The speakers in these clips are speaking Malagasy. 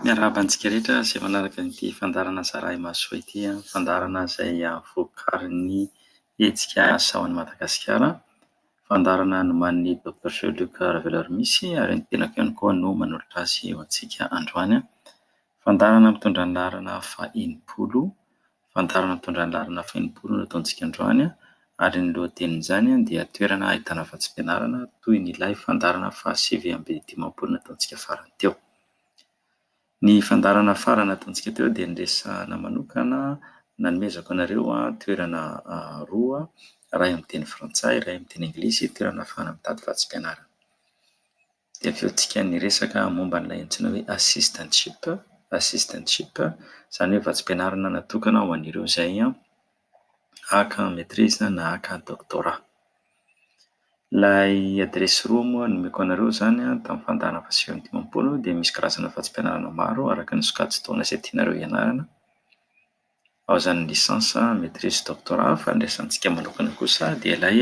Miarahaba antsika rehetra izay manaraka ity fandaharana Zarahy Mahasoa ity. Fandaharana izay vokarin'ny hetsika Asa ho an'i Madagasikara. Fandaharana nomanin'i Doctor Jean-Luc Ravelarmisy ary ny tenako ihany koa no manolotra azy ho antsika androany. Fandaharana mitondra ny laharana fahenimpolo. Fandaharan'ny mitondra ny laharana fahenimpolo no ataontsika androany ary ny lohatenin'izany dia toerana ahitana vatsim-pianarana toy ny ilay fandaharana fahasivy amby dimampolo nataontsika farany teo. Ny fandaharana farany nataontsika teo dia niresahana manokana nanomezako anareo toerana roa, iray amin'ny teny frantsay, iray amin'ny teny anglisy, toerana ahafahana mitady vatsim-pianarana. Dia avy eo tsika niresaka momba an'ilay antsoina hoe assistantship, assistantship izany hoe vatsim-pianarana natokana ho an'ireo izay haka maîtrise na haka doctorat. Ilay adiresy roa moa nomeko anareo izany tamin'ny fandaharana fahasivy amby dimampolo dia misy karazana vatsim-pianarana maro araka ny sokajin-taona izay tianareo hianarana. Ao izany licence, maitrise, doctorat fa ny resahantsika manokana kosa dia ilay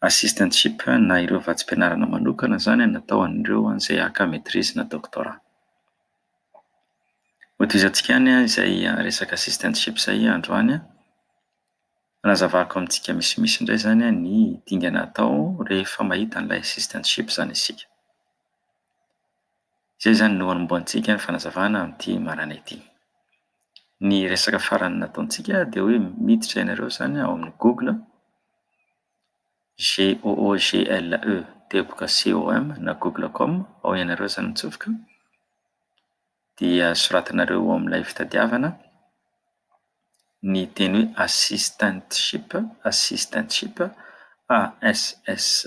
assistantship na ireo vatsim-pianarana manokana izany natao an'ireo izay haka maitrise na doctorat. Hotohizantsika ihany izay resaka assistantship izay androany an, hanazavako amintsika misimisy indray izany an ny dingana atao rehefa mahita an'ilay assistantship izany isika. Izay izany no anombohantsika ny fanazavana amin'ity maràna ity. Ny resaka farany nataontsika dia hoe miditra ianareo izany ao amin'ny Google, G-o-o-g-l-e, teboka C-o-m na google com, ao ianareo izany mitsofoka, dia soratanareo ao amin'ilay fitadiavana ny teny hoe assistantship, assistantship, a s s.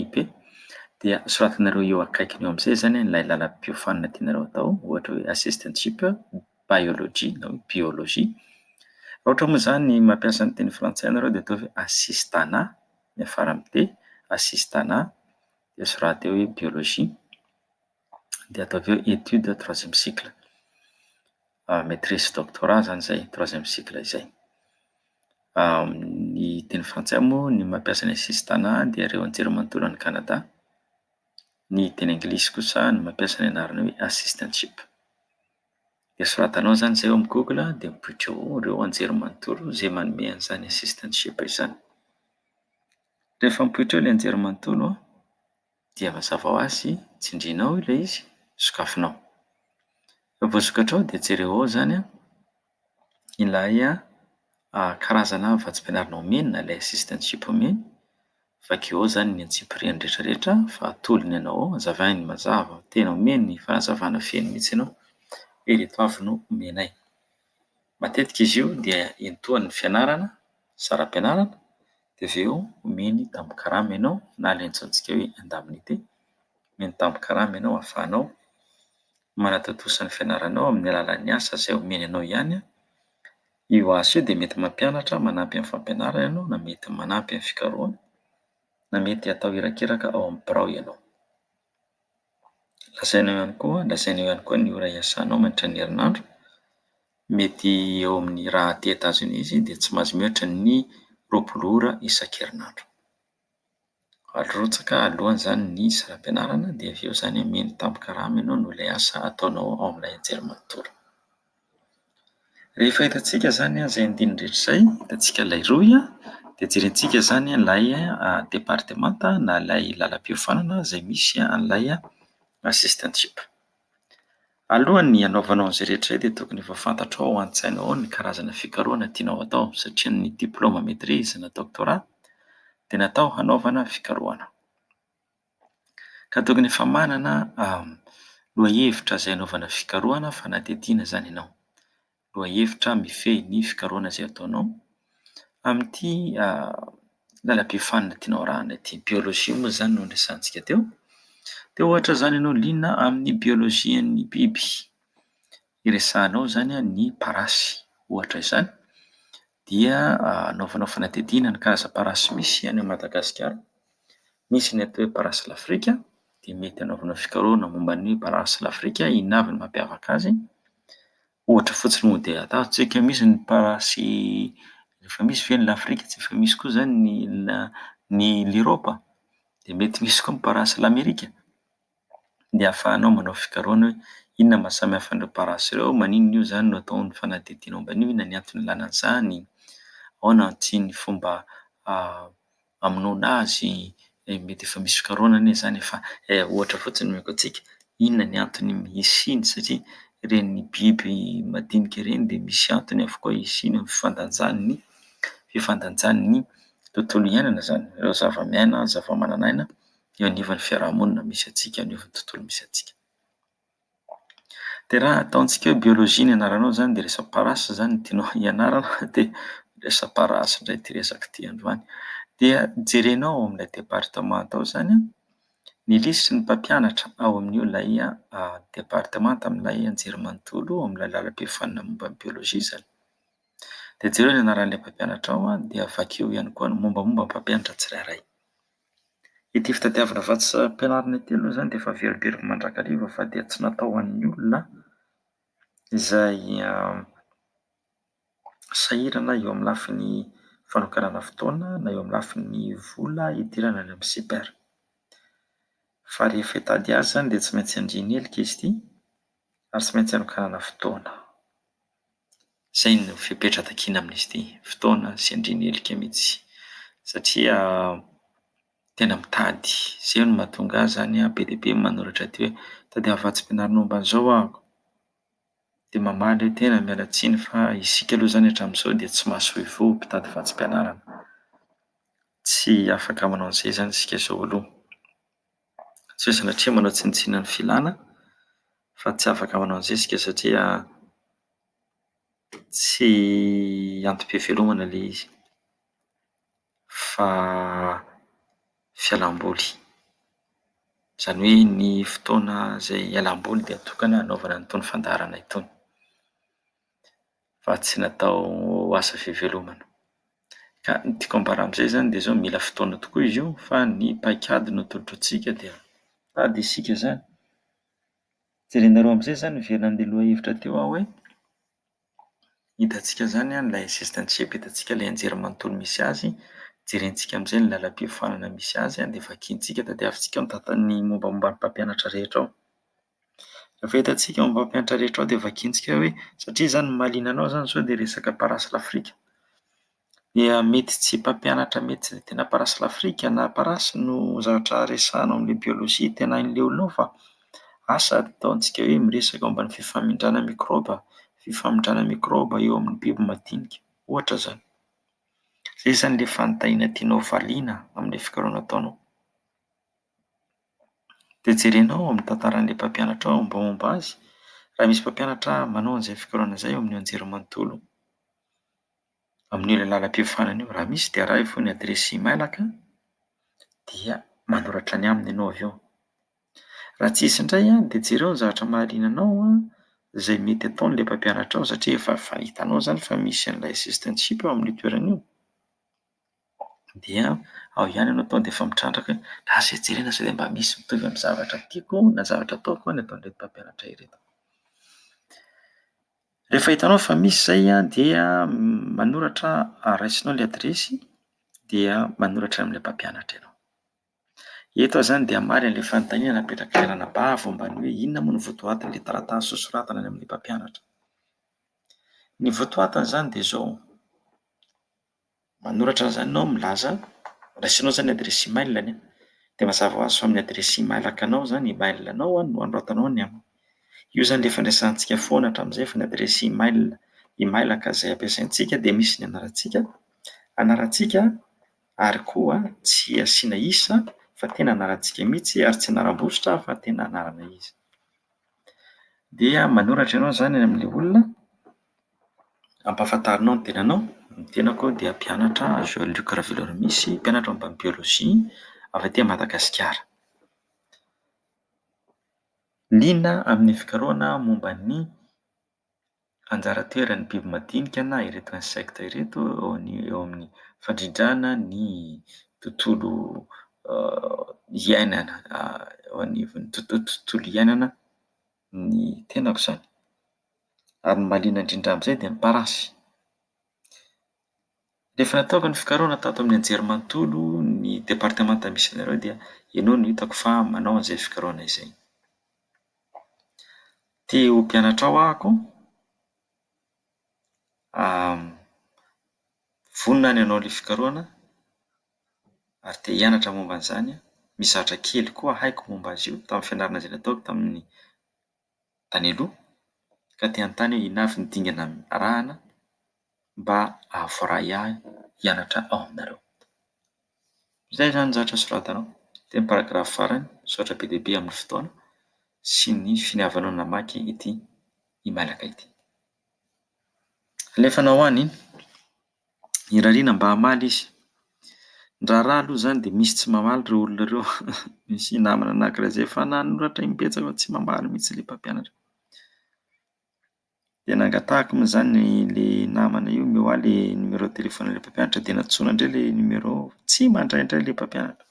IP, dia soratanareo eo akaikiny eo amin'izay zany ilay lalam-piofanana tianareo atao, ohatra hoe assistantship, biology na hoe biologie. Raha ohatra moa zany mampiasa ny teny frantsay ianareo dia ataovy hoe assistanat miafara amin'ny D, assistanat dia soraty eo hoe biologie. dia atao avy eo étude troisième cycle maitrise sy doctorat zany zay troisième cycle izay ny teny frantsay moa ny mampiasa ny sisintana dia ireo anjerimanontolo any Canada ny teny anglisy kosa no mampiasa ny anarana hoe assistantship dia soratanao zany zay eo amin'ny google dia mipoitra eo ireo anjerimanontolo zay manome an'izany assistantship izany rehefa mipoitra eo ilay anjerimanontolo dia mazava ho azy tsindrianao ilay izy, sokafinao. Raha vao sokatrao dia jereo ao izany an, ilay karazana vatsim-pianarana omeny na ilay assistantship omeny, vakio ao izany ny antsipiriany rehetrarehetra fa atolony ianao ao, azavainy mazava, tena omeny ny fanazavana feno mihitsy ianao hoe ireto avy no omenay. Matetika izy io dia iantohan'ny fianarana, saram-pianarana, dia avy eo omeny tambin-karama ianao na lentsantsika hoe indemnité, omeny tambin-karama ianao ahafahanao manatontosa ny fianaranao amin'ny alalan'ny asa izay omeny anao ihany, io asa io dia mety mampianatra manampy amin'ny fampianarana ianao na mety manampy amin'ny fikarohana na mety atao irakiraka ao amin'ny birao ianao. Lazaina eo ihany koa lazaina eo ihany koa ny ora iasanao mandritra ny herinandro. Mety eo amin'ny raha aty Etazonia izy dia tsy maintsy mihoatra ny roapolo ora isan-kerinandro. Arotsaka aloha izany ny saram-pianarana dia avy eo izany omeny tambin-karama ianao noho ilay asa ataonao ao amin'ilay anjerimanontolo. Rehefa hitantsika izany izay andininy rehetra izay, hitantsika ilay rohy dia jerentsika izany ilay departemanta na ilay lalam-piofanana izay misy an'ilay assistantship. Alohan'ny hanaovanao an'izay rehetra izay dia tokony efa fantatrao ao an-tsainao ao ny karazana fikarohana tianao atao satria ny diplaoma maitrise na doctorat dia natao hanaovana fikarohana. Ka tokony efa manana lohahevitra izay anaovana fikarohana fanadihadiana izany ianao. Lohahevitra mifehy ny fikarohana izay ataonao amin'ity lalam-be fanina tianao arahina ity. Biolojia moa izany no niresahantsika teo. Dia ohatra izany ianao liana amin'ny biolojian'ny biby, iresahanao izany ny parasy ohatra izany. dia anaovanao fanadihadiana ny karaza parasy misy any Madagasikara, misy ny atao hoe parasy lafrika dia mety anaovanao fikarohana momba ny parasy lafrika inona avy no mampiavaka azy, ohatra fotsiny moa dia ataontsika misy ny parasy efa misy ve ny lafrika tsy efa misy koa zany ny ny l'europe? dia mety misy koa ny parasy lamerika. dia ahafahanao manao fikarohana hoe inona no maha samy hafa an'ireo parasy ireo, maninona io izany no atao ny fanadihadiana momba an'io, inona ny antony ilana an'izany, ahoana tsy ny fomba hamonoana azy, mety efa misy fikarohana anie izany e fa ohatra fotsiny no omeko antsika, inona ny antony isiany satria ireny biby madinika ireny dia misy antony avokoa isiany amin'ny fifandanjany ny fifandanjany ny tontolo iainana izany, ireo zava-miaina, zava-manan'aina. eo anivon'ny fiarahamonina misy antsika, eo anivon'ny tontolo misy antsika. Dia raha ataontsika hoe biologie ny anaranao zany dia resa-parasy zany no tianao hianarana dia resa-parasy indray ity resaka ity androany. Dia jerenao ao amin'ilay departemanta ao zany ny lisitry ny mpampianatra ao amin'io lay departemanta amin'ilay anjerimanontolo ao amin'ilay lalam-pihafanana momba ny biologie zany. Dia jereo ny anaran'ilay mpampianatra ao dia vakio ihany koa ny mombamomba ny mpampianatra tsirairay. Ity fitadiavana vatsim-pianarana ity aloha izany dia efa velively mandrakariva fa dia tsy natao ho an'ny olona izay sahirana eo amin'ny lafiny fanokanana fotoana na eo amin'ny lafiny vola hidirana any amin'ny CPER. Fa rehefa hitady azy izany dia tsy maintsy handrian'ny helika izy ity ary tsy maintsy hanokanana fotoana. Izay no fepetra takiana amin'izy ity, fotoana sy andriana helika mihitsy satria tena mitady. Izay no mahatonga ahy izany be dia be ny manoratra aty hoe tadiavo vatsim-pianarana momba an'izao aho. Dia mamaly hoe tena miala tsiny fa isika aloha izany hatramin'izao dia tsy mahasoivoho mpitady vatsim-pianarana. Tsy afaka manao an'izay izany isika izao aloha. Tsy sanatria manao tsinontsinona ny filana fa tsy afaka manao ny zezika satria tsy antom-pivelomana ilay izy fa fialam-boly. Izany hoe ny fotoana izay hialam-boly dia tokana hanaovana an'itony fandaharana itony. fa tsy natao ho asa fivelomana. Ka ny tiako ambara amin'izay izany dia izao, mila fotoana tokoa izy io fa ny paik'ady no atolotra antsika dia ady isika izany. Jerenareo amin'izay izany miverina an'ilay lohahevitra teo aho hoe, hitantsika izany an, ilay zesta ny tsy hiapetratsika ilay anjery manontolo misy azy, jerentsika amin'izay ny lalam-piofanana misy azy dia vakintsika, tadiavintsika ao ny data ny mombamomba ny mpampianatra rehetra ao. Rehefa hitantsika ao amin'ny mpampianatra rehetra ao dia vakintsika hoe satria izany mahaliana anao izany sao dia resaka parasy l'Afrique. Dia mety tsy mpampianatra mety tsy dia tena parasy l'Afrique na parasy no zavatra resahanao amin'ilay biologie tena aleoleonao fa asa ataontsika hoe miresaka momba ny fifamindrana mikraoba, fifamindrana mikraoba eo amin'ny biby madinika, ohatra izany. Izay izany ilay fanontaniana tianao valiana amin'ilay fikarohana ataonao. Dia jerena ao amin'ny tantaran'ilay mpampianatra ao ny mombamomba azy, raha misy mpampianatra manao an'izay fikarohana izay ao amin'ny anjerimanontolo amin'io lalam-piofanana io. Raha misy dia araho foana ny adiresy imailaka dia manoratra ny aminy ianao avy eo. Raha tsisy indray an, dia jereo ny zavatra mahaliana anao an, izay mety ataon'ilay mpampianatra ao satria efa efa hitanao izany fa misy an'ilay assistantship ao amin'io toerana io. dia ao ihany ianao tonga dia efa mitrandraka hoe lasa etsy ary lasa eroa mba misy mitovy amin'ny zavatra tiako na zavatra ataoko ny ataon'ireto mpampianatra ireto. Rehefa hitanao fa misy izay an, dia manoratra raisinao ilay adiresy dia manoratra amin'ilay mpampianatra ianao. Eto aho izany dia hamaly an'ilay fanontaniana napetrak'ilay ranabavy momba ny hoe inona moa no votoatin'ilay taratasy sosoratana any amin'ny mpampianatra. Ny votoatiny izany dia izao. Manoratra an'izany ianao milaza, raisinao izany ny adiresy email anie, dia mazava ho azy fa amin'ny adiresy email akanao izany email anao no anoratanao ny aminy. Io izany ilay fandraisantsika foana hatramin'izay fa ny adiresy email email aka izay ampiasaintsika dia misy ny anarantsika anarantsika ary koa tsy asiana isa fa tena anarantsika mihitsy ary tsy anaram-bosotra fa tena anarana izy. Dia manoratra ianao izany any amin'ilay olona Ampahafantarinao ny tenanao? Ny tenako aho dia mpianatra Jean Luc Raveloarimisy, mpianatra momba ny biolojia avy aty Madagasikara. Liana amin'ny fikarohana momba ny anjara toeran'ny biby madinika na ireto insectes ireto eo amin'ny- eo amin'ny fandrindrana ny tontolo iainana eo anivon'ny tontolo iainana. ny tenako izany. Ary ny mahaliana indrindra amin'izay dia ny parasy. Ny efa nataoko ny fikarohana tato amin'ny anjerimanontolo ny departemanta misy anareo dia ianao no hitako fa manao an'izay fikarohana izay. Te ho mpianatrao aho koa, vonona ny hanao ilay fikarohana. ary te hianatra momba an'izany aho. Misy zavatra kely koa haiko momba azy io tamin'ny fianarana izay nataoko tamin'ny tany aloha, ka te hanontany aho inona avy ny dingana arahana mba hahavoray ahy hianatra ao aminareo. Izay izany ny zavatra soratanao tamin'ny paragrafy farany, misaotra be dia be amin'ny fotoana sy ny finiavanao namaky ity e-mailaka ity. Alefanao ho any iny. irariana mba hamaly izy. Ny raharaha aloha izany dia misy tsy mamaly ireo olona ireo, misy namana anakiray izay efa nanoratra im-betsaka fa tsy mamaly mihitsy ilay mpampianatra. Dia nangatahako moa izany ilay namana io omeo ahy ilay numéro de téléphone-n'ilay mpampianatra dia nantsoina indray ilay numéro, tsy mandray indray ilay mpampianatra.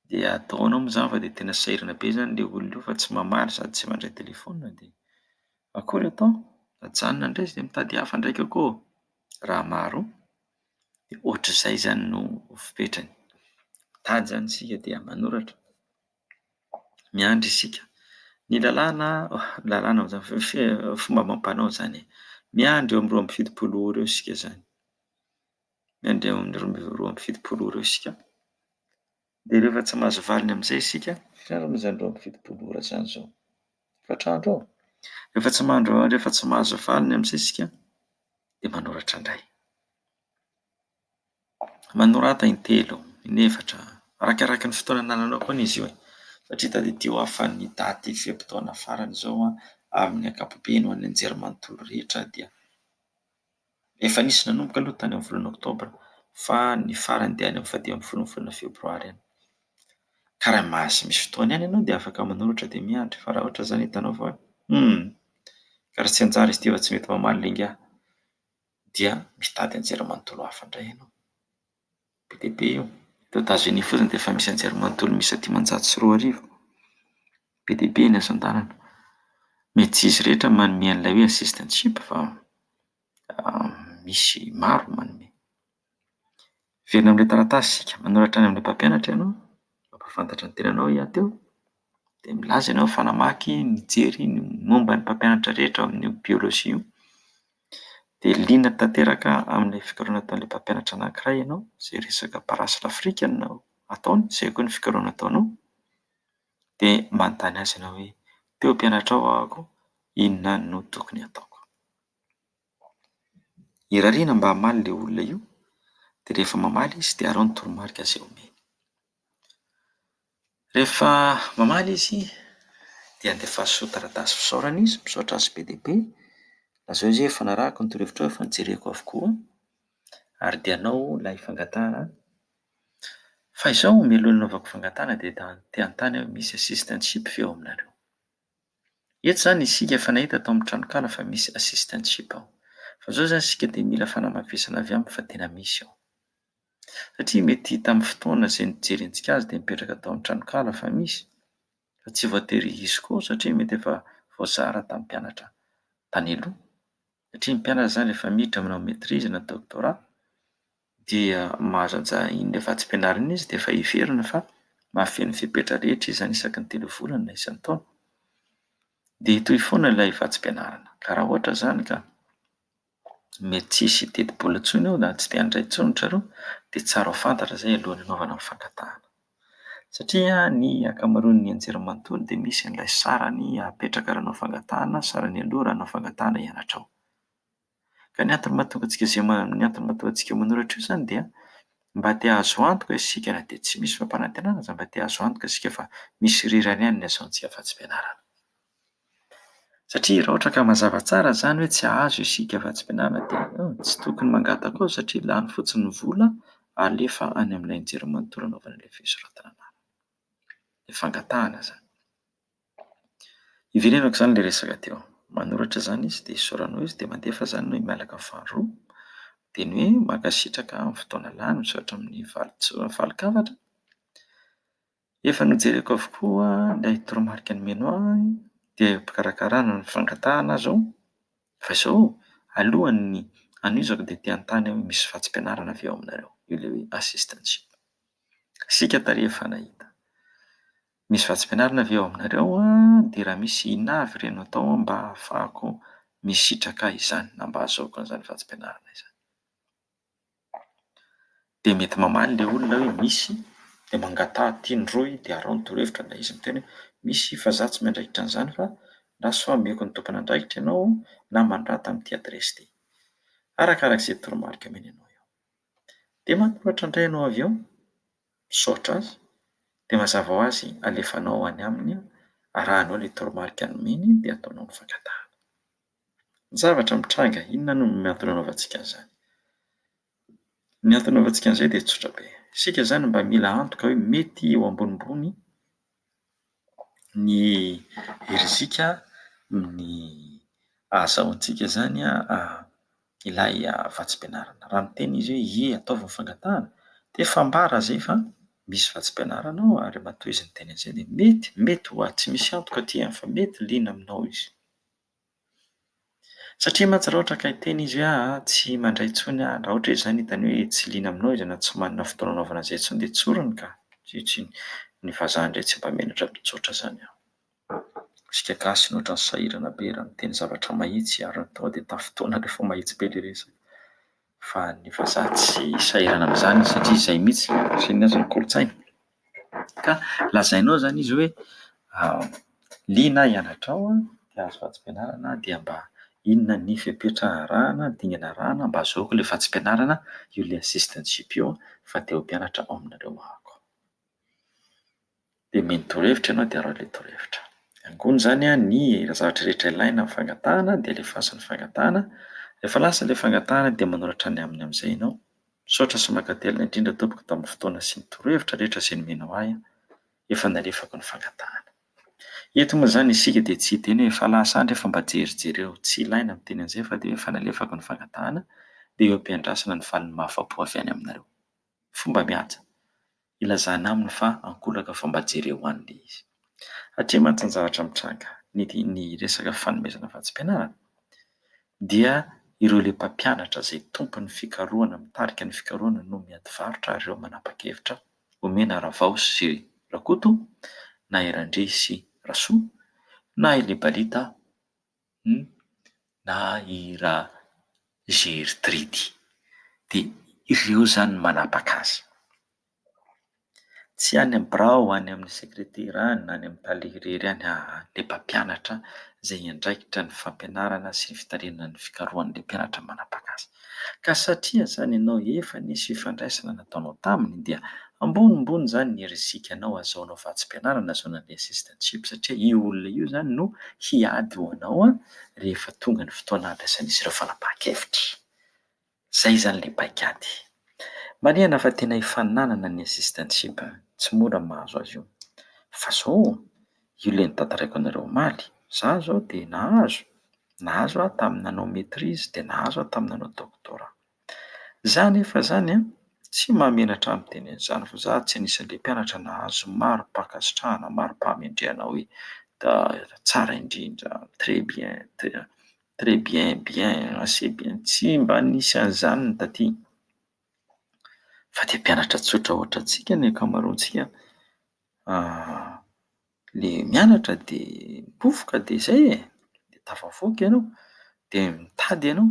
Dia ataonao moa izany fa dia tena sahirana be izany ilay olona io fa tsy mamaly sady tsy mandray telefaonina dia akory atao? Ajanona indray izy dia mitady hafa ndraika koa raha maro dia ohatr'izay izany no fepetrany. Mitady izany isika dia manoratra, miandry isika. Ny lalàna lalàna ho zava- fe- fomba amam-panao izany e, miandry eo amin'ny roa amby fitopolo ora eo isika izany. miandeha amin'ny roa ambin'ny roa amby fitopolo ora eo isika, dia rehefa tsy mahazo valiny amin'izay isika, otrany moa izany roa amby fitopolo ora izany izao? efatra andro eo, rehefa tsy mandro- rehefa tsy mahazo valiny amin'izay isika dia manoratra indray, manorata in-telo, in-efatra, arakaraky ny fotoana anananao koa anie izy io e! satria tadidio aho fa ny daty fe-potoana farany izao amin'ny ankapobeny ho an'ny anjerimanontolo rehetra dia. Efa nisy nanomboka aloha tany amin'ny volana oktobra fa ny farany dia any amin'ny fahadimy ambin'ny folon'ny volana febroary any. Ka raha mahazo misy fotoana ihany ianao dia afaka manoratra dia miandry fa raha ohatra izany hitanao fa hum! ka raha tsy hanjary izy ity fa tsy mety mamaly le ingahy dia mitady anjerimanontolo hafa indray ianao. Be dia be io. Eto Etazonia fotsiny dia efa misy anjery manontolo miisa dimanjato sy roa arivo. Be dia be ny asa an-dalana. Mety tsy izy rehetra manome an'ilay hoe assistantship fa misy maro manome. Miverina amin'ilay taratasy isika. Manoratra any amin'ilay mpampianatra ianao, mampahafantatra ny tenanao hiato eo, dia milaza ianao fa namaky, nijery ny momba ny mpampianatra rehetra ao amin'io biolojia io. dia liana tanteraka amin'ilay fikarohana ataon'ilay mpampianatra anankiray ianao, izay resaka parasy l'Afrique no ataony, izay koa ny fikarohana ataonao, dia manontany azy ianao hoe : te ho mpianatra ao aho koa, inona no tokony hataoko? Irariana mba hamaly ilay olona io, dia rehefa mamaly izy dia arao ny toromarika izay omeny. Rehefa mamaly izy, dia andefaso taratasy fisaorana izy, misaotra azy be dia be. Lazao izy hoe efa narahako ny torohevitrao, efa nojereko avokoa ary dia anao ilay fangatahana. Fa izao mialoha ny hanaovako fangatahana dia ta- te hanontany aho hoe misy assistantship ve ao aminareo? Eto izany isika efa nahita tao amin'ny tranonkala fa misy assistantship ao. Fa izao izany isika dia mila fanamafisana avy aminy fa tena misy ao. satria mety tamin'ny fotoana izay nijerentsika azy dia nipetraka tao amin'ny tranonkala fa misy fa tsy voatery hisy koa satria mety efa voazara tamin'ny mpianatra tany aloha satria ny mpianatra izany rehefa miditra manao maitrise na doctorat dia mahazo an'za- iny vatsim-pianarana iny izy dia efa heverina fa mahafehy ny fepetra rehetra izy izany isaky ny telo volana na isan-taona dia hitohy foana ilay vatsim-pianarana ka raha ohatra izany ka mety tsy hisy hiteti-bola intsony eo na tsy te handray intsony ry zareo dia tsara ho fantatra izay alohan'ny hanaovana ny fangatahana. Satria ny ankamaroan'ny anjerimanontolo dia misy an'ilay sarany apetraka raha hanao fangatahana, sarany aloha raha hanao fangatahana hianatra ao. Ka ny antony mahatonga antsika izay ma- ny antony mahatonga antsika manoratra io izany dia mba te hahazo antoka isika na dia tsy misy fampanantenana aza mba te hahazo antoka isika fa misy rirany ihany ny asaontsika afa-tsy fianarana. Satria raha ohatra ka mazava tsara izany hoe tsy hahazo isika vatsim-pihinana dia tsy tokony mangataka koa satria lany fotsiny ny vola alefa any amin'ilay anjerimanontolo anaovana ilay fisoratana anarana. Ilay fangatahana izany. Hiverenako izany ilay resaka teo. Manoratra izany izy dia isaoranao izy dia mandefa izany ny hoe miala amin'ny faharoa. Dia ny hoe mankasitraka amin'ny fotoana lany misaotra amin'ny vali-tso- valin-kafatra. Efa nojereko avokoa ilay toromarika nomena ahy dia am-pikarakarana ny fangatahana azy ao. Fa izao ô, alohan'ny hanohizako dia te hanontany aho hoe misy vatsim-pianarana ve ao aminareo io le hoe assistantship? Asiaka tarehy efa nahita. Misy vatsim-pianarana ve ao aminareo an? Dia raha misy inona avy ireny no atao mba ahafahako misitraka izany na mba ahazoako an'izany vatsim-pianarana izany? Dia mety mamaly ilay olona hoe misy, dia mangataha aty ny rohy dia araho ny torohevitra ilay izy miteny hoe misy fa izaho tsy miandraikitra an'izany fa na sao hameko ny tompon'andraikitra ianao na manondrata amin'ity adiresy ity. Arakaraka izay toromarika omeny anao eo. Dia manoratra indray ianao avy eo, misaotra azy, dia mazava ho azy alefanao any aminy, arahanao ilay toromarika nomeny dia ataonao ny fangatahana. Ny zavatra mitranga, inona no ny antony anaovantsika an'izany? Ny antony anaovantsika an'izay dia tsotra be. Isika izany mba mila antoka hoe mety eo ambonimbony ny rizika ny ahazahoantsika izany ilay vatsim-pianarana. Raha miteny izy hoe ie ataovy ny fangatahana, dia fambara izay fa misy vatsim-pianarana ao ary matoa izy niteny an'izay dia mety, mety ho ahy. Tsy misy antoka aty an, fa mety liana aminao izy. Satria mantsy raha ohatra ka hiteny izy hoe aa tsy mandray intsony aho, raha ohatra izy izany hitany hoe tsy liana aminao izy na tsy manana fotoana hanaovana izay intsony dia tsoriny ka! Ankehitriny, ny vazaha indray tsy mba menatra mitsotra izany aho. Isika gasy no ohatran'ny sahirana be raha miteny zavatra mahitsy ary ny tonga dia tafintohina rehefa mahitsy be ilay resaka. Fa ny vazaha tsy sahirana amin'izany satria izay mihitsy no fisian'ny azy ny kolontsainy. Ka lazainao izany izy hoe liana hianatra ao dia azo vatsim-pianarana dia mba inona ny fepetra arahana, dingana arahana mba ahazoako ilay vatsim-pianarana io ilay assistant GPO fa te ho mpianatra ao aminareo aho. Dia mino torohevitra ianao dia araho ilay torohevitra. Angony izany an, ny zavatra rehetra ilaina amin'ny fangatahana dia alefaso ny fangatahana, rehefa lasa ilay fangatahana dia manoratra ny aminy amin'izay ianao. Misaotra sy mankatelina indrindra tompoko tamin'ny fotoana sy ny torohevitra rehetra izay nomenao ahy an, efa nalefako ny fangatahana. Eto moa izany isika dia tsy hiteny hoe efa lasa andry fa mba jery jereo, tsy ilaina ny miteny an'izay fa dia hoe efa nalefako ny fangatahana, dia eo am-piandrasana ny faly mahafa-po avy any aminareo. Fomba mihaja ilazana aminy fa ankolaka vao mba jereo any ilay izy. Hatreto mantsy ny zavatra mitranga ny resaka fanomezana vatsim-pianarana dia ireo ilay mpampianatra izay tompon'ny fikarohana mitarika ny fikarohana no miadivarotra ary ireo manapa-kevitra omena Ravao sy Rakoto na i Randria sy Rasoa na i Lebalita Hum na i ra Gertrydy de ireo zany no manapaka azy. Tsy any amin'ny birao, any amin'ny sekretera any na any amin'ny tale irery any aa le mpampianatra zay hiandraikitra ny fampianarana sy ny fitarihanan'ny fikarohana le mpianatra manapaka azy. Ka satria izany ianao efa nisy fifandraisana nataonao taminy dia ambonimbony izany ny rizikanao azahoanao vatsim-pianarana journalistes and chips satria io olona io izany no hiady ho anao rehefa tonga ny fotoana handraisan'izy ireo fanapahan-kevitra. Izay izany ilay paikady. Marihana fa tena hifaninanana ny assistantship, tsy mora ny mahazo azy io. Fa izao. io ilay notantaraiko anareo omaly, za zao dia nahazo, nahazo aho tamin'ny nanao maitrise dia nahazo aho tamin'ny nanao doctorat. Za nefa zany an, tsy mahamenatra ahy miteny an'izany fa za tsy anisan'le mpianatra nahazo mari-pankasitrahana, mari-pahamendrehana hoe tsara indrindra, très bien, très bien, bien, assez bien, tsy mba nisy an'izany ny taty, fa dia mpianatra tsotra ohatrantsika ny ankamaroantsika le mianatra de mipofoka de zay e, de tafavoaka ianao, de mitady ianao,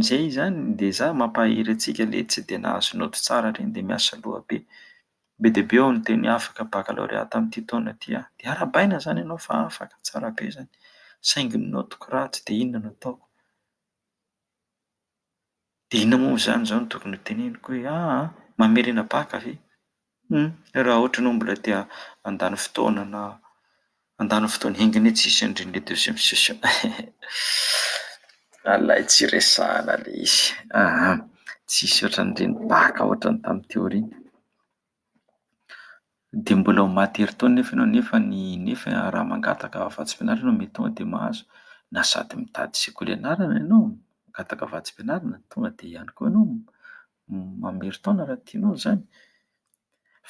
zay zany le za mampahery antsika le tsy de nahazo naoty tsara reny de miasa loha be, be dia be aho no tena afaka baccalauréat tamin'ity taona ty an, de arahabaina zany ianao fa afaka tsara be zany, saingy ny naotiko ratsy de inona no ataoko. Dia inona moa izany izao no tokony hoteneniko hoe aa mamerina bacc ve? Hum raha ohatra ianao mbola te handany fotoana na handany fotoana enga anie tsisy an'ireny le deuxième session alay tsy resahana le izy aa tsisy ohatran'ireny bacc ohatran'ny tamin'ny teo ireny Dia mbola ho maty ery taona nefa ianao nefa ny nefa raha mangataka vatsim-pianarana mety tonga dia mahazo na sady mitady sekoly ianarana ianao mangataka vatsim-pianarana tonga dia ihany koa ianao mamerin-taona raha tianao izany.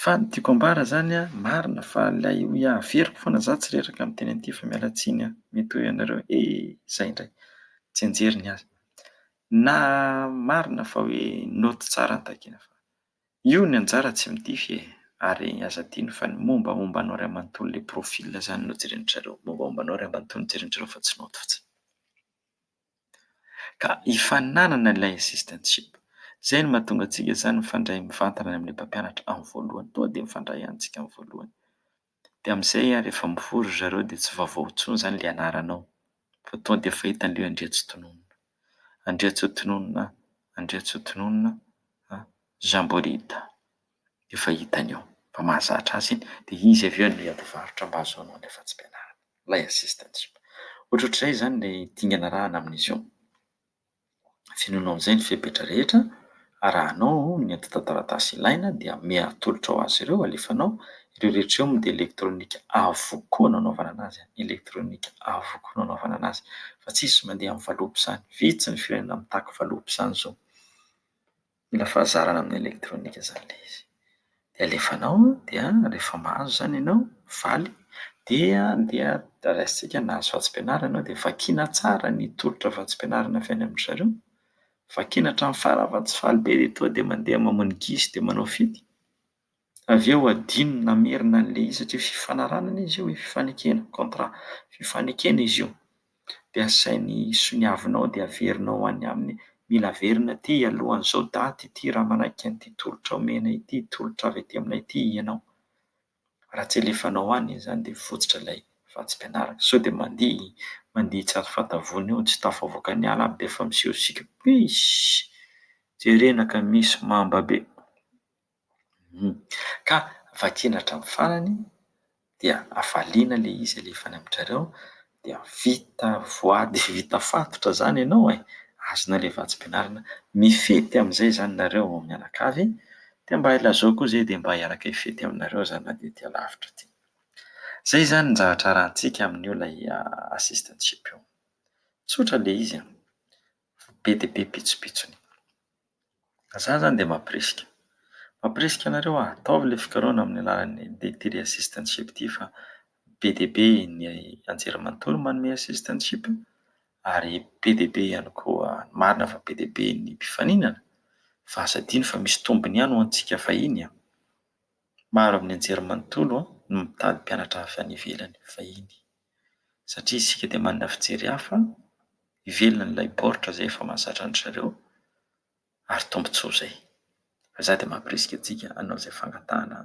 Fa ny tiako ambara izany an, marina fa ilay hoe averiko foana za tsy reraka amin'ny teny aty fa miala tsiny an, mety ho ianareo he izay indray tsy enjery ny azy na marina fa hoe naoty tsara ny takiana fa. Io ny anjara tsy midify e! Ary aza adino fa ny mombamomba anao ry amantony le profil zany no jereny drareo, mombamomba anao ry amantony jereny drareo fa tsy naoty fotsiny. Ka hifaninanana ilay assistantship. Zay no mahatonga antsika zany mifandray mivantana any amin'ilay mpampianatra amin'ny voalohany, tonga de mifandray any tsika amin'ny voalohany. Dia amin'izay ary efa mivory ry zareo dia tsy vaovao intsony izany ilay anaranao fa tonga dia efa hita ny hoe Andriantsitonono. Andriantsitonono a, Andriantsitonono a, Jean Bolida. Efa hitany eo fa mahazatra azy iny dia izy avy eo no hiady varotra mba hahazoanao ny afatsim-pianarana, ilay assistantship. Ohatrohatr'izay izany ilay dingana arahana amin'izy io. Fenoinao amin'izay ny fepetra rehetra, arahanao ny antontan-taratasy ilaina dia ame atolotra ho azy ireo, alefanao. Ireo rehetra ireo moa dia elektronika avokoa no anaovana anazy, elektronika avokoa no anaovana anazy fa tsisy mandeha amin'ny valopy izany. Vitsy ny firenena mitaky valopy izany izao. Mila fahazarana amin'ny elektronika izany ilay izy. Dia alefanao an, dia rehefa mahazo izany ianao, mivaly, dia dia raisintsika nahazo vatsim-pianarana ianao dia vakiana tsara ny tolotra vatsim-pianarana avy any amin-dry zareo, vakiana hatramin'ny farany fa tsy faly be dia tonga dia mandeha mamono gidro dia manao fety. Avy eo adino ny namerina an'ilay izy satria fifanarahana izy io e, fifanekena, contrat, fifanekena izy io. Dia asainy soniavinao dia averinao any aminy, mila averina aty alohan'izao daty ity raha manaiky an'ity tolotra omena ity, tolotra avy aty aminay ity ianao. Raha tsy alefanao any izany dia mivotsitra ilay vatsim-pianarana. Sao dia mandihy, mandihy tsy azo fatavony eo, tsy tafavoaka ny ala aby dia efa miseho siky, puiiss! Jerena ka misy mamba be. Ka vakiana hatramin'ny farany dia avaliana ilay izy alefa any amin-drareo dia vita voady vita fatotra izany ianao e! azonao ilay vatsim-pianarana, mifety amin'izay izany nareo vao mianakavy dia mba ilazao koa izay dia mba hiaraka hifety aminareo za na dia aty alavitra aty. Izay izany ny zavatra arahantsika amin'io ilay assistantship io. Tsotra ilay izy an! Fa be dia be pitsopitsony. Ka za zany dia mampirisika. Mampirisika anareo aho, ataovy ilay fikarohana amin'ny alalan'ny Dairy Assistantship ity fa be dia be ny anjerimanontolo manome assistantship ary be dia be ihany koa, marina fa be dia be ny mpifaninana fa aza adino fa misy tombony ihany ho antsika fahiny an! Maro amin'ny anjerimanontolo no mitady mpianatra avy any ivelany fahiny. satria isika dia manana fijery hafa ivelan'ilay baoritra izay efa mahazatra an-dry zareo ary tombontsoa izay. Fa izaho dia mampirisika antsika hanao izay fangatahana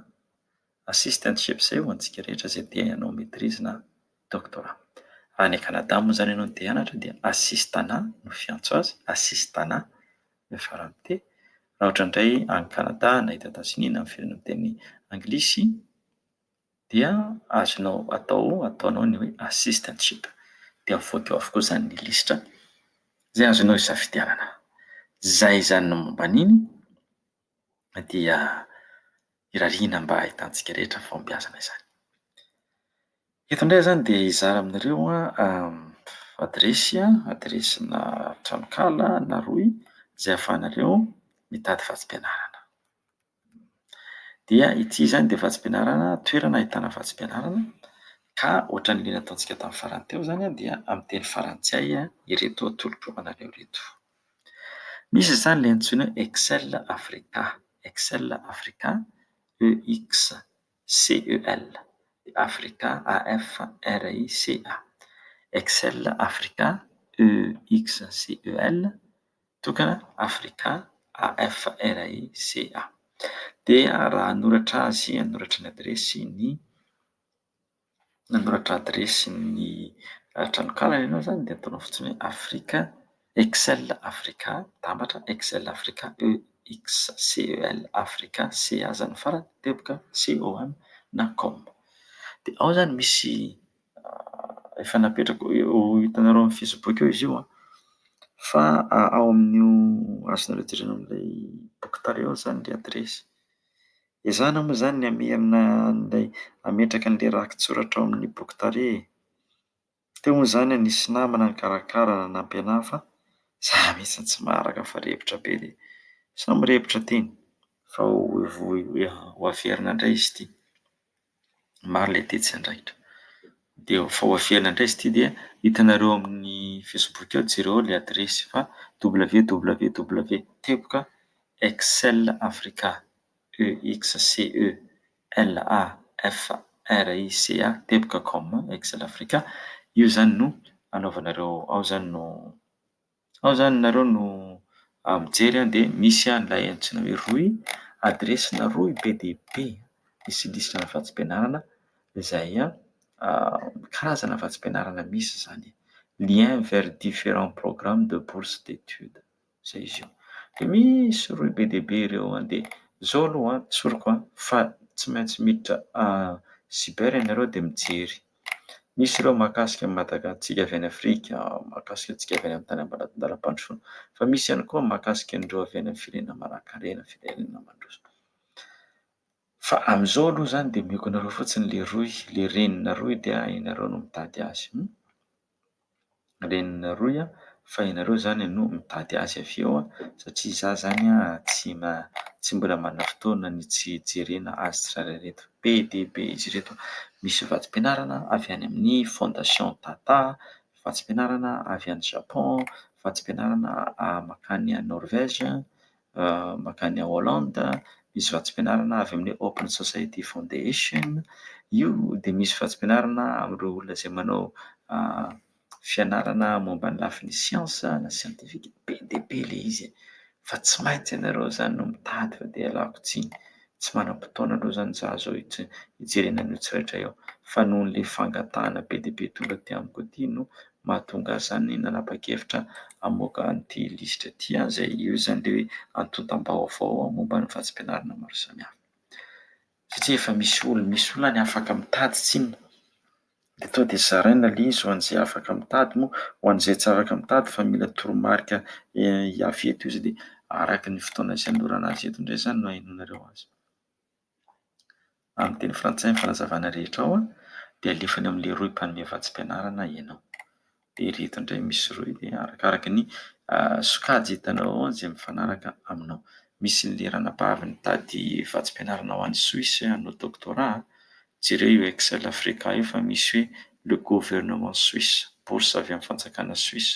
assistant ship izay ho antsika rehetra izay te hanao maitrise na doctorat. Raha any Canada moa izany ianao no te hianatra dia assistana no fiantso azy, assistana no ifarany teny. Raha ohatra indray any Canada na eto Etazonia na amin'ny firenena miteny anglisy, dia azonao atao ataonao ny hoe assistantship dia mivoaka eo avokoa izany ny lisitra izay azonao isafidianana. Izay izany ny momba an'iny dia irariana mba ahitantsika rehetra ny fahombiazana izany. Eto indray izany dia hizara aminareo adiresy, adiresinà tranonkala na rohy izay ahafahanareo mitady vatsim-pianarana. Dia ity izany dia vatsim-pianarana, toerana ahitana vatsim-pianarana ka ohatran'ny liana ataontsika tamin'ny farany teo izany dia amin'ny teny frantsay ireto atolotro anareo ireto. Misy izany ilay antsoina hoe Excel Africa, Excel Africa, EXCEL, Africa, AFRICA, Excel Africa, EXCEL. tokana Africa AFRICA. Dia raha hanoratra azy, hanoratra ny adiresy ny hanoratra adiresy ny tranonkalany ianao izany dia ataonao fotsiny hoe Africa Excel Africa dambatra Excel Africa EXCEL Africa CA izany farany teboka COM na com. Dia ao izany misy efa napetrako, ho hitanareo amin'ny facebook eo izy io an! fa ao amin'io azonareo jerena an'ilay boky tale ao zany ny adiresy, ezahina moa zany ny hamerina an'ilay hametraka an'ilay rakitsoratra ao amin'ny boky tale e! teo moa zany an nisy namana nikarakara nanampy anahy fa za mihitsy tsy maharaka fa repotra be dia samy repotra teny fa ho averina indray izy ity maro ilay tetsy Andraikitra. Dia vao avy ela indray izy ity dia hitanareo ao amin'ny facebook ao, jereo ao ilay adiresy fa www. Teboka excel africa teboka com. Io izany no anaovanareo, ao izany no... Ao zany nareo no mijery an dia misy an'ilay antsoina hoe rohy, adiresina rohy be dia be misy lisitran'ny vatsim-pianarana izay karazana vatsim-pianarana misy zany e! lien vers differents programmes de bourse d'étude zay izy io. Dia misy rohy be dia be ireo an! dia zao aloha an! tsoriko an! fa tsy maintsy miditra cyber ianareo dia mijery. Misy ireo mahakasika an'i Madaga antsika avy any Afrika, mahakasika antsika avy any amin'ny tany ambaratondalam-pandrosoana. Fa misy ihany koa mahakasika an'ireo avy any amin'ny firenena manankarena, firenena mandroso. Fa amin'izao aloha izany dia omeko anareo fotsiny ilay rohy, ilay reninareo dia ianareo no mitady azy. reninareo a fa ianareo zany no mitady azy avy eo a satria za zany a tsy tsy mbola manana fotoana ny tsy hijerena azy tsirairay ireto be dia be izy ireto misy vatsim-pianarana avy any amin'ny fondation tata vatsim-pianarana avy any japon vatsim-pianarana mankany any norvège makany Hollande, misy vatsim-pianarana avy amin'ny Open Society Foundation. Io dia misy vatsim-pianarana amin'ireo olona izay manao fianarana momba ny lafiny siansa na siantifika. Be dia be ilay izy fa tsy maintsy ianareo izany no mitady fa dia ialako tsiny, tsy manam-potoana loatra izany za zao hijerena an'io tsirairay io fa noho ilay fangatahana be dia be tonga aty amiko aty no mahatonga izany nanapa-kevitra hamoaka an'ity lisitra ity azy e. Io izany ilay hoe antontam-baovao momba ny vatsim-pianarana maro samihafa. Satria efa misy olona, misy olona any afaka mitady tsinona. Dia tonga dia zaraina ilay izy ho an'izay afaka mitady moa, ho an'izay tsy afaka mitady fa mila toromarika avy eto izy dia araka ny fotoana izay anolorana azy eto indray izany no ahenoanareo azy. Amin'ny teny frantsay ny fanazavana rehetra ao dia alefa any amin'ilay rohy mpanome vatsim-pianarana ianao. Dia ireto indray misy rohy dia arakaraka ny sokajy hitanao ao izay mifanaraka aminao. Misy ny lerana maro mitady vatsim-pianarana ho any Suisse hanao doctorat. Jereo io excel africa io fa misy hoe le gouvernement suisse, bourse avy amin'ny fanjakana suisse,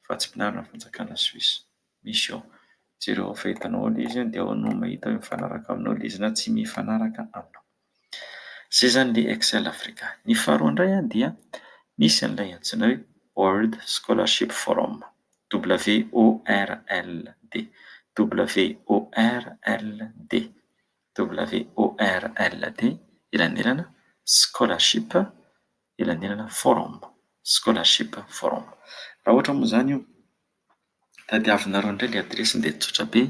vatsim-pianarana avy amin'ny fanjakana suisse. misy eo. Jereo ao fahitana ao le izy dia ao no mahita hoe mifanaraka aminao le izy na tsy mifanaraka aminao. Zay zany le Excel Africa. Ny faharoa indray dia misy an'ilay antsoina hoe World Scholarship Forum, WORLD, WORLD, WORLD, elanelana, scholarship, elanelana, forum, scholarship forum. Raha ohatra moa izany io. Tadiavinareo indray ilay adiresiny dia tsotra be,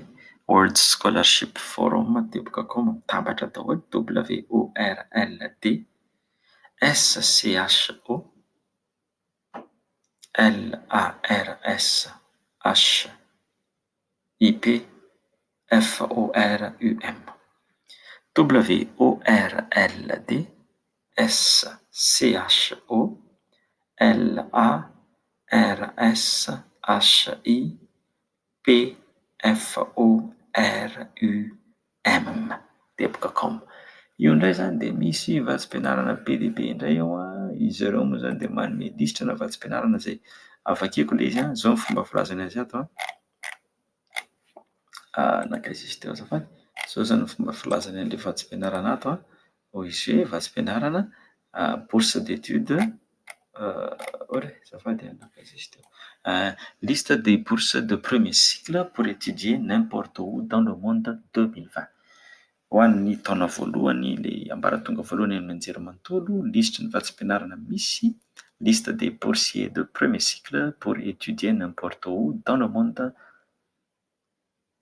World Scholarship Forum teboka com, mitambatra daholo, WORLD SCHO LARSHIP FORUM. WORLD. SCHO, LARSHI, PFORUM. Debug.com. Io indray izany dia misy vatsim-pianarana be dia be indray ao, izy ireo moa izany dia manome lisitra ana vatsim-pianarana izay ary vakiako ilay izy an, izao ny fomba filazany azy ato an, nankaiza izy teo azafady, izao izany ny fomba filazany an'ilay vatsim-pianarana ato an. OEG, vatsim-pianarana, bourse d'études, Liste des bourses de premier cycle pour étudier n'importe où dans le monde 2020 Ho an'ny taona voalohany, ilay ambaratonga voalohany amin'ny anjerimanontolo, lisitry ny vatsim-pianarana misy, Liste des boursiers de premier cycle pour étudier n'importe où dans le monde.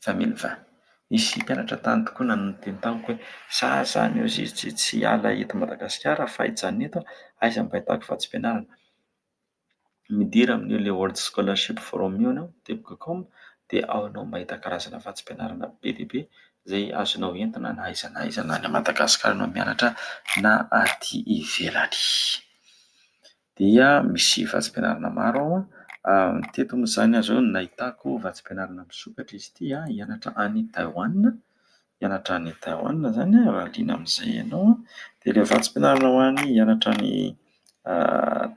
Za mino fa. Nisy mpianatra tany tokoa nanao ny teny tamiko hoe, za zany eo zizijy tsy hiala eto Madagasikara fa hijanona eto aho, aiza mba ahitako vatsim-pianarana? Midira amin'io ilay World Scholarship Forum io ianao, web.com, dia ao ianao mahita karazana vatsim-pianarana be dia be izay azonao entina na aiza na aiza na any Madagasikara ianao mianatra na aty ivelany. dia misy vatsim-pianarana maro ao an, teto moa izany aza eo no nahitako vatsim-pianarana misokatra izy ity an, hianatra any Taiwan, hianatra any Taiwan izany an, raha liana amin'izay ianao an, dia ilay vatsim-pianarana ho an'ny hianatra any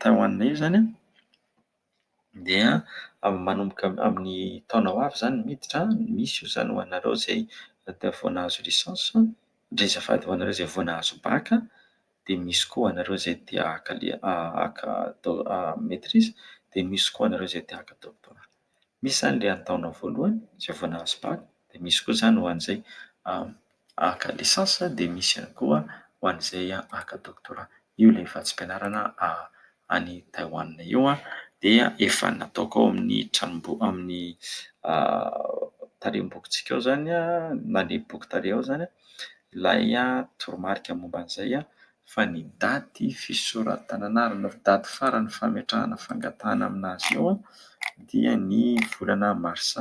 Taiwan io izany an, dia manomboka amin'ny taona ho avy izany miditra an, misy io izany ho anareo izay vao nahazo licence, dia azafady ho anareo izay vao nahazo bac. dia misy koa anareo izay te haka haka maitrise dia misy koa anareo izay te haka doctorat. Misy izany le an-taona voalohany izay vao nahazo bac dia misy koa izany ho an'izay haka licence dia misy ihany koa ho an'izay haka doctorat. Io ilay vatsim-pianarana any Taiwan io dia efa nataoko ao amin'ny tranomboky amin'ny tarehimbokitsika ao izany na ny boky tarehy ao izany ilay toromarika momba an'izay fa ny daty fisoratana na ny daty farany fametrahana fangatahana amin'azy io dia ny volana marsa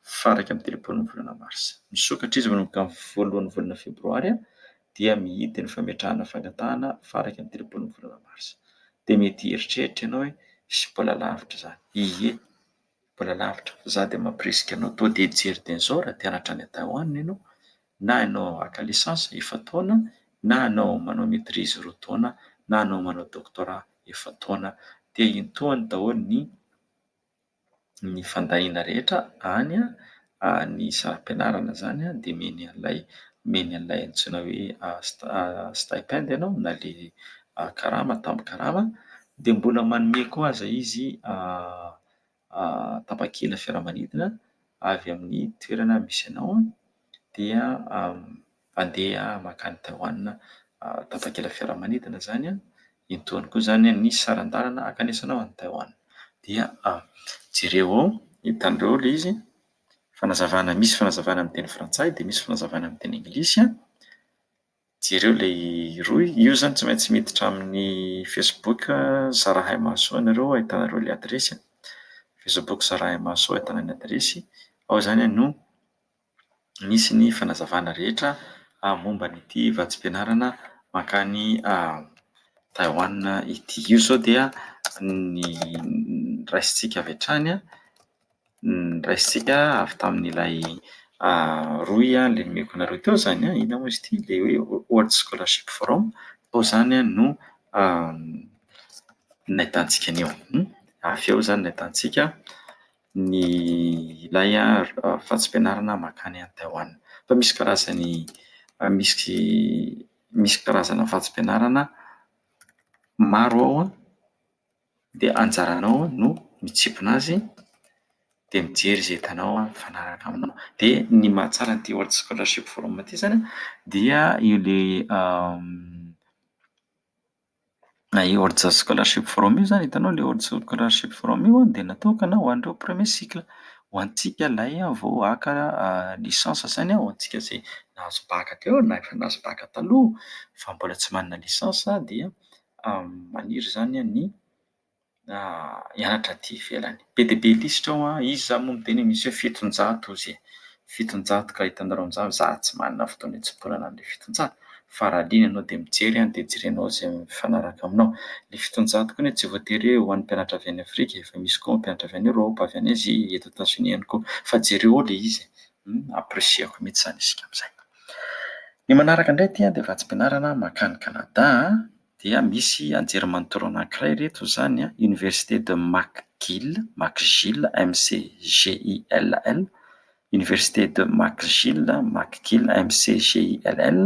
faha iraika amby telopolo ny volana marsa. Misokatra izy manomboka ny voalohan'ny volana febroary dia mihidy ny fametrahana fangatahana faraky ny telopolo ny volana marsa. Dia mety hieritreritra ianao hoe hisy mbola lavitra izany. Ie, mbola lavitra. Za dia mampirisika anao toa dia hijery Denso raha te hanatra any Taiwan ianao, na ianao haka licence efa-taona, na ianao manao maitrise roa taona, na ianao manao doctorat efa-taona. Dia intohany daholo ny. ny fandahiana rehetra any amin'ny saram-pianarana izany dia omeny an'ilay omeny an'ilay antsoina hoe stipend ianao na dia karama tambin-karama dia mbola manome koa aza izy tapakila fiaramanidina avy amin'ny toerana misy anao dia Mpandeha mankany Taiwan tapakila fiaramanidina izany an, intoany koa izany ny saran-dalana hankanesanao any Taiwan. Dia jereo ao, hitanareo ao ilay izy, fanazavana, misy fanazavana amin'ny teny frantsay dia misy fanazavana amin'ny teny anglisy an, jereo ilay rohy, io izany tsy maintsy miditra amin'ny facebook Zarahaimahasoa ianareo hahitanareo ilay adiresy an, facebook Zarahaimahasoa ahitana ny adiresy, ao izany no nisy ny fanazavana rehetra momba an'ity vatsim-pianarana mankany Taiwan ity. Io izao dia ny raisintsika avy hatrany, ny raisintsika avy tamin'ilay rohy nomeko anareo teo izany. Inona moa izy ity? Ilay hoe World Scholarship Forum. Tao izany no nahitantsika an'io. Avy eo izany no nahitantsika. ny ilay vatsim-pianarana mankany any Taiwan. Fa misy karazany misy misy karazana vatsim-pianarana maro ao an, dia anjaranao no mitsipona azy dia mijery izay hitanao mifanaraka aminao. Dia ny mahatsara an'ity World Scholarship Forum ity izany an dia ilay Na io Orja Scholarship Forum io izany, hitanao ilay Orja Scholarship Forum io an, dia natokana ho an'ireo premier cycle. Ho antsika ilay vao haka licence izany an, ho antsika izay nahazo baka teo na efa nahazo baka taloha fa mbola tsy manana licence dia maniry izany ny hianatra aty ivelany. Be dia be lisitra ao an, izy za moa miteny hoe misy hoe fitonjato ozy e! fitonjato ka hitanareo amin'izany hoe za tsy manana fotoana hitsimponana an'le fitonjato fa raha liana ianao dia mijery an, dia jerenao izay mifanaraka aminao. Le fitonjato koa anie tsy voatery hoe ho an'ny mpianatra avy any Afrika e! fa misy koa mpianatra avy any Eoropa, avy any Azia, eto Etazonia ihany koa. Fa jereo ao le izy e! Apprécier-ko mihitsy izany isika amin'izay. Ny manaraka indray aty an dia vatsim-pianarana mankany Canada an! dia misy anjerimanontolo anankiray ireto izany an, Université de McGill, McGill, MCGILL, Université de McGill, McGill, MCGILL,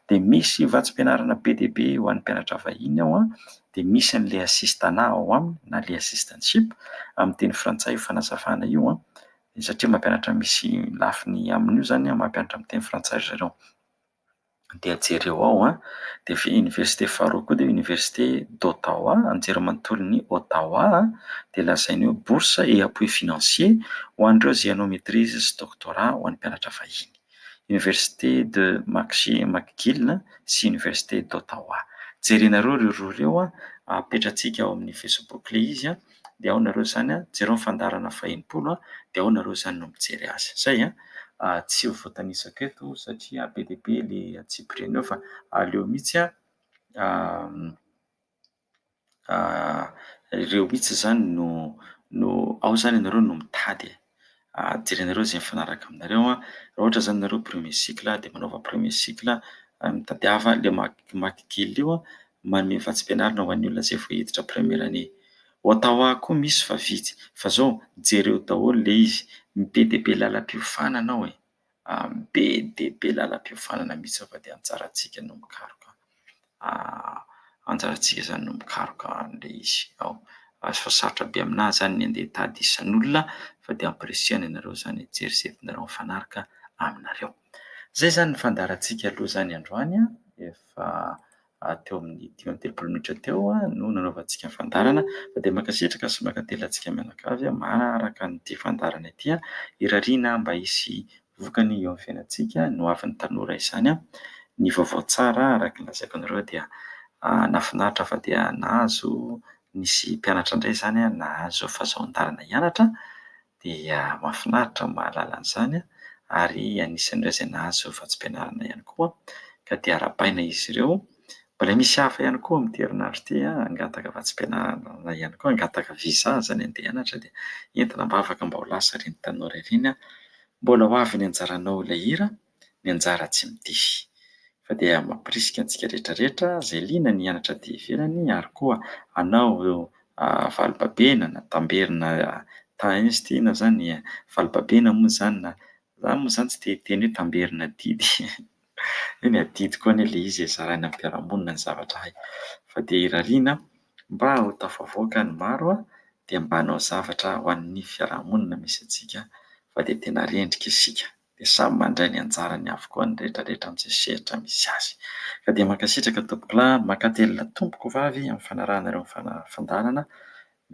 dia misy vatsim-pianarana be dia be ho an'ny mpianatra vahiny ao an, dia misy an'ilay assistana ao aminy na ilay assistantship amin'ny teny frantsay io fanazavana io an, satria mampianatra misy lafiny amin'io izany an, mampianatra amin'ny teny frantsay ry zareo. dia jereo ao an, dia avy eo oniversite faharoa koa dia oniversite d'Ottawa, anjerimanontolon'i Ottawa, dia lazainy hoe bourse et appui financier ho an'ireo izay hanao maitrise sy doctorat ho an'ny mpianatra vahiny, oniversite de Maxi- McGill sy oniversite d'Ottawa. Jerenareo ireo roa ireo an, apetratsika ao amin'ny facebook ilay izy an. dia ao nareo izany an, jereo ny fandaharana faha enimpolo an, dia ao nareo izany no mijery azy. Izay an! Tsy ho voatanisako eto satria be dia be le antsipiriany eo fa aleo mihitsy an, ireo mihitsy izany no, ao izany ianareo no mitady e! jerenareo izay mifanaraka aminareo an, raha ohatra izany ianareo premier cycle dia manaova premier cycle, mitadiava ilay maky kely io manome vatsim-pianarana ho an'ny olona izay vao hiditra première année. Ottawa koa misy fa vitsy fa izao jereo daholo ilay izy, be dia be lalam-piofanana ao e! amin'ny be dia be lalam-piofanana mihitsy fa dia anjarantsika no mikaroka anjarantsika izany no mikaroka an'ilay izy ao. Ary fa sarotra be aminà izany ny handeha hitady isan'olona fa dia ampirisihana ianareo izany hijery izay tianareo mifanaraka aminareo. Izay izany ny fandaharantsika aloha izany androany, efa teo amin'ny dimy amby telopolo minitra teo no nanaovantsika ny fandaharana fa dia mankasitraka sy mankatelina antsika mianakavy manaraka an'ity fandaharana ity. Irariana mba hisy vokany eo amin'ny fiainantsika ny hoavin'ny tanora izany. Ny vaovao tsara araka ny lazaiko anareo dia nahafinaritra fa dia nahazo nisy mpianatra indray izany nahazo fahazoan-dalana hianatra Dia mahafinaritra ny mahalala an'izany ary anisan'ireo izay nahazo vatsim-pianarana ihany koa ka dia arahabaina izy ireo. Mbola misy hafa ihany koa amin'ity herinandro ity hangataka vatsim-pianarana ihany koa, hangataka visa izany handeha hianatra dia entina am-bavaka mba ho lasa ireny tanora ireny. Mbola ho avy ny anjaranao ilay hira. ny anjara tsy mitify. Fa dia mampirisika antsika rehetra rehetra izay liana ny hianatra aty ivelany ary koa hanao valimpabena na tamberina tany izy ity na izany valimpabena moa izany na za moa izany tsy te hiteny hoe tamberina adidy hoe ny adidy koa anie ilay izy e, zaraina amin'ny mpiara-monina ny zavatra hay. Fa dia irariana mba ho tafavoaka ny maro dia mba hanao zavatra ho an'ny fiaraha-monina misy antsika fa dia tena rendrika isika. dia samy mandray ny anjarany avokoa ny retraretra amin'izay sehatra misy azy. Ka dia mankasitraka Tompokolahy ary mankatelina Tompoko vavy amin'ny fanarahanareo ny fandaharana,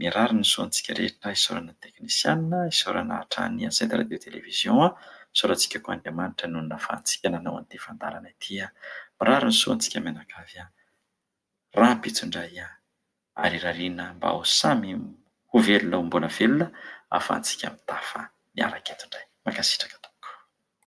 mirary ny soa antsika rehetra, isaorana ny teknisiana, isaorana hatrany ny Ancêtre Radio Télévision, isaorantsika koa Andriamanitra nonina ahafahantsika nanao an'ity fandaharana ity, mirary ny soa antsika mianakavy. rahampitso-ndray ahy, ary rariana mba ho samy ho velona ho mbola velona ahafahantsika mitafa miaraka eto indray. Mankasitraka tompoko.